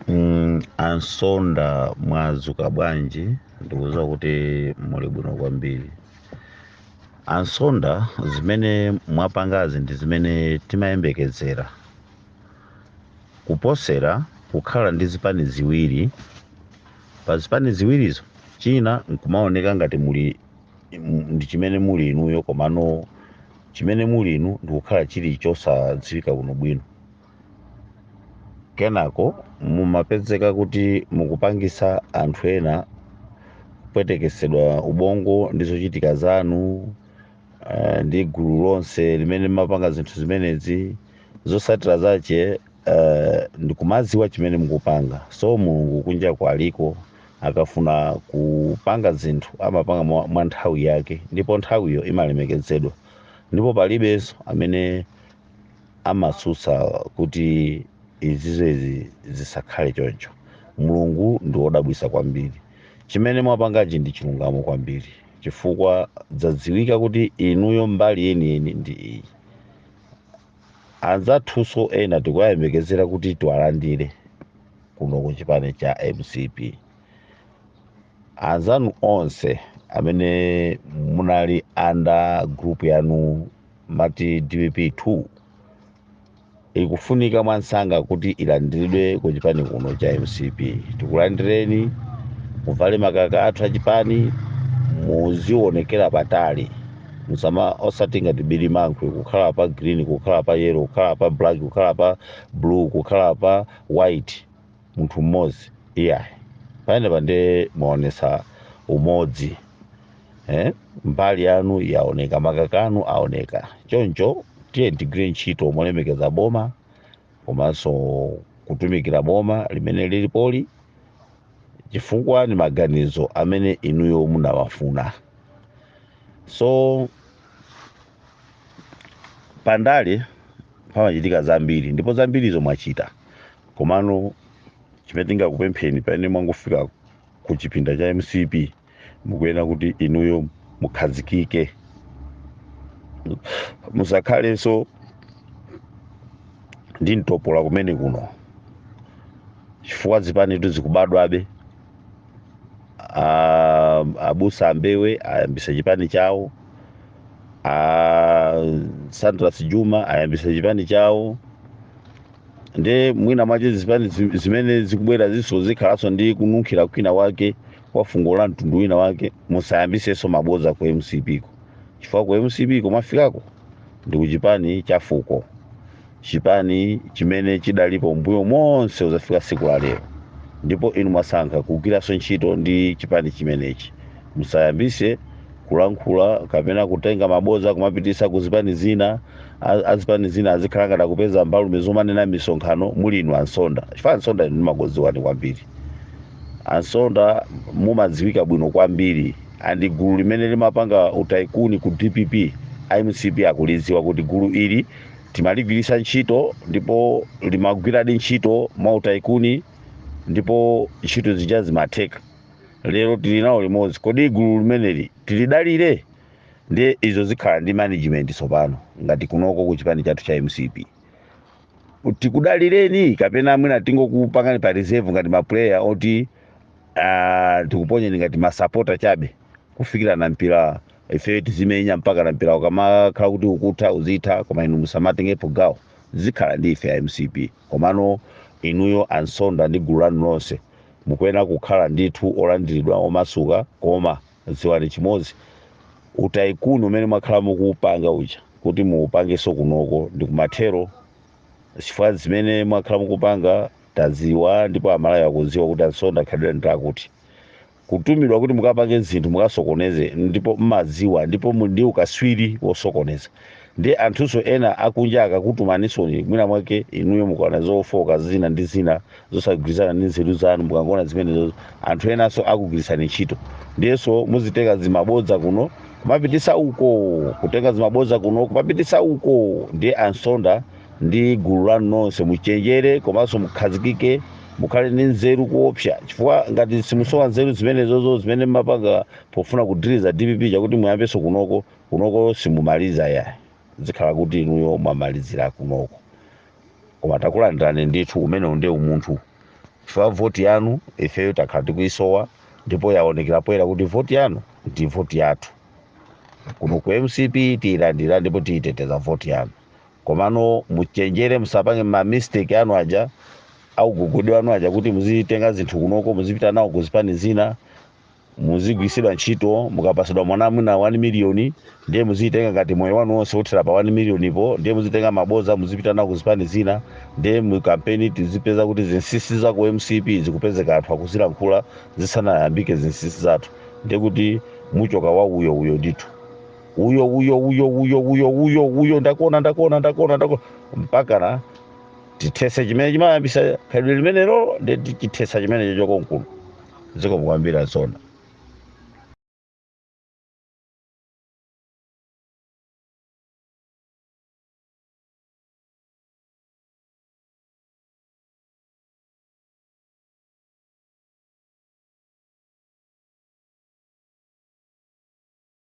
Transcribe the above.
Mm, a nsonda mwazuka bwanji ndikuziwa kuti muli bwino kwambiri a nsonda zimene mwapangazi ndi zimene timayembekezera kuposera kukhala ndi zipani ziwiri pa zipani ziwirizo china nkumaoneka ngati muli ndi chimene muli inuyo komano chimene muli inu ndikukhala chili chosadziwika bwino bwino kenako mumapezeka kuti mukupangisa anthu ena kupwetekesedwa ubongo ndi zochitika zanu uh, ndi gulu lonse limene limapanga zinthu zimenezi zosatira zake uh, ndikumaziwa chimene mukupanga so mulungu kunjaku aliko akafuna kupanga zinthu amapanga mwa, mwa nthawi yake ndipo nthawiyo imalemekezedwa ndipo palibenso amene amatsutsa kuti izizi izi zisakhale choncho mulungu ndi wodabwisa kwambiri chimene mwapangachi ndi chilungamo kwambiri chifukwa zadziwika kuti inuyo mbali yeniyeni ndi iyi anzathunso ena tikuwayembekezera kuti tiwalandire kuno ku chipani cha mcp anzanu onse amene munali anda group yanu mati dpp 2 ikufunika mwansanga kuti ilandiridwe ku chipani kuno cha mcp tikulandireni muvale makaka athu achipani muzionekera patali musama osati ngati bilimankhwe kukhala pa green kukhala pa yellow kukhala pa black kukhala pa blue kukhala pa white munthu mmodzi iyayi panopa nde mwaonesa umodzi eh? mbali yanu yaoneka makaka anu aoneka choncho tiyeni tigwire ntchito molemekeza boma komanso kutumikira boma limene lilipoli chifukwa ni maganizo amene inuyo munawafuna so pandale pamachitika zambiri ndipo zambirizo mwachita komano chimene tingakupempheni pamene mwangofika ku chipani cha mcp mukuyenera kuti inuyo mukhazikike musakhalenso ndi mtopola kumene kuno chifukwa zipanitu zikubadwabe a- abusa ambewe ayambisa chipani chawo a sandras juma ayambisa chipani chawo nde mwina mwacho zipani zi- zimene zikubwerazinso zikhalanso ndi kununkhira kwina wake kwa fungo la mtundu wina wake musayambisenso maboza ku mcp ko chifukwa ku mcp ko mwafikako ndi kuchipani cha fuko chipani chimene chidalipo mbuyo monse kuzafika siku la lero ndipo inu mwasankha kugwiraso ntchito ndi chipani chimenechi musayambise kulankhula kapena kutenga maboza kumapitisa ku zipani zina A- azipani zina azikhala ngati akupeza mbalume zomanena misonkhano mu ndi inu ansonda chifukwa ansonda inu ndimakuziwani kwambiri ansonda mumadziwika bwino kwambiri ndi gulu limene limapanga utaikuni ku dpp mcp akulidziwa kuti gulu ili timaligwiritsa ntchito ndipo limagwiradi ntchito mwa utaikuni ndipo ntchito zija zimatheka lero tili nawo limodzi kodi gulu limeneli tilidalire ndiye izo zikhala ndi management tsopano ngati kunoko ku chipani chathu cha mcp tikudalireni kapena mwina tingokupangani pa reserve ngati mapuleya oti ah, tikuponyeni ngati masapota chabe kufikira na mpira ifeyo tizimenya mpakana mpira ukamakhala kuti ukutha uzitha koma inu musamatengepo gawo zikhala ndi ife a mcp komano inuyo ansonda ndi gulu lanu lonse mukuyenera kukhala ndithu olandiridwa omasuka koma dziwani chimodzi utaikuni umene mwakhala mukuupanga uja kuti muupangenso kunoko ndi kumathero chifukwa zimene mwakhala mukupanga taziwa ndipo amalawi akuziwa kuti ansonda khalidwe ndi lakuti kutumidwa kuti mukapange zinthu mukasokoneze ndipo mmaziwa ndipo muli ndi ukaswiri wosokoneza ndiye anthunso ena akunja akakutumanisoni mwina mwake inuyo mukaona zofoka zina ndi zina zosagwirizana ndi nzeru zanu mukangoona zimenezo anthu enanso akugwirisani ntchito ndiyenso muzitenga zimabodza kuno kumapitisa uko kutenga zimabodza kuno kumapitisa uko ndiye ansonda ndi gulu lanu nonse muchenjere komanso mukhazikike mukhale ndi nzeru kuopsa chifukwa ngati simusowa nzeru zimenezozo zimene mmapanga pofuna kuthandiza dpp kuti muyambenso kunoko kunoko simumaliza ya zikhala kuti inuyo mwamalizira kunoko koma takulandirani ndithu umenewu ndiye umunthu chifukwa voti yanu ifeyo takhala tikuyisowa ndipo yaonekera poyera kuti voti yanu ndi voti yathu kuno ku mcp tiyilandira ndipo tiyiteteza voti yanu komano muchenjere musapange ma mistake anu aja augogodi wanu aja kuti muzitenga zinthu kunoko muzipita nawo ku zipani zina muzigwirisidwa ntchito mukapasidwa mwina mwina 1 miliyoni ndiye muzitenga ngati moyo wanu wonse uthera pa 1 miliyoni po ndiye muzitenga maboza muzipita nawo ku zipani zina ndiye mu kampeni tizipeza kuti zinsisi za ku mcp zikupezeka anthu akuzilankhula zisanayambike zinsisi zathu ndiye kuti muchoka wa uyo uyo ndithu uyo uyo uyo uyo uyo uyo uyo ndakuona ndakuona ndakuona ndakuona mpakana tithese chimene chimayambisa khalidwe limenelo ndi tichithesa chimenecho chokamkulu zikomo kwambiri azona